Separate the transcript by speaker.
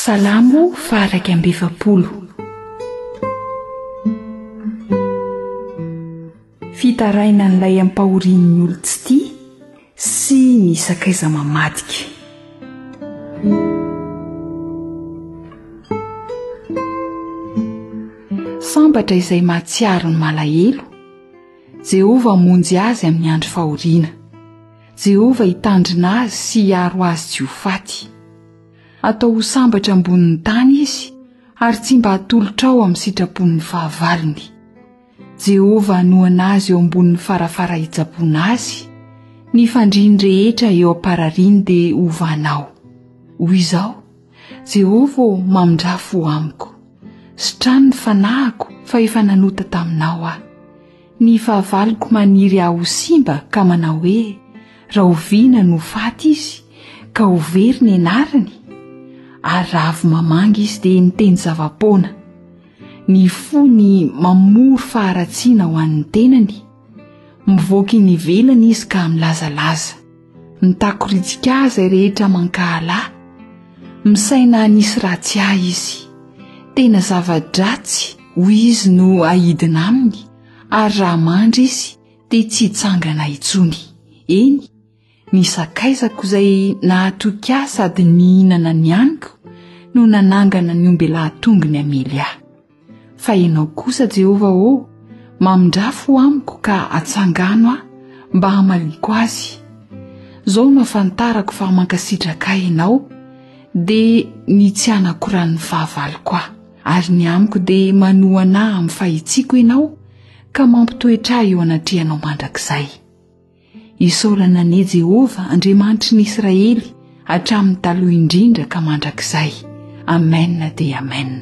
Speaker 1: Salamo fahairaika amby efapolo. Fitaraina an'ilay ampahorian'ny olon-tsy tia sy ny sakaiza mamadika. Sambatra izay mahatsiaro ny malahelo, Jehovah hamonjy azy amin'ny andro fahoriana. Jehovah hitandrina azy sy hiaro azy tsy ho faty. Atao ho sambatra ambonin'ny tany izy, ary tsy mba hatolotra ao amin'ny sitrapon'ny fahavalony. Jehovah hanohana azy eo ambonin'ny farafara hitsaboana azy, ny fandriany rehetra eo am-parariany dia hovana ao. Hoy izao, Jehovah ô, mamindrà fo amiko. Sitrano ny fanahiko, fa efa nanota taminao aho. Ny fahavaloko maniry ahy ho simba ka manao hoe, Rahoviana no faty izy, ka ho very ny anarany? Ary raha avy mamangy izy dia miteny zava-poana. Ny fony mamory faharatsiana ho an'ny tenany. Mivoaka eny ivelany izy ka milazalaza. Mitakoritsika ahy izay rehetra mankahala, misaina hanisy ratsy ahy izy. Tena zava-dratsy, hoy izy, no aidina aminy, ary raha mandry izy, dia tsy hitsangana intsony. Eny, ny sakaizako izay nahatoky ahy sady nihinana ny haniko no nanangana ny ombelahy tongony hamely ahy. Fa ianao kosa, Jehovah ô, mamindrà fo amiko ka atsangano aho mba hamaliako azy. Izao no ahafantarako fa mankasitraka ahy ianao, dia ny tsy hanako ran'ny fahavaloko aho. Ary ny amiko dia manohana ahy amin'ny fahitsiako ianao, ka mampitoetra ahy eo anatrehanao mandrakizay. Isaorana anie Jehovah Andriamanitry ny Israely hatramin'ny taloha indrindra ka mandrakizay. Amen dia Amen.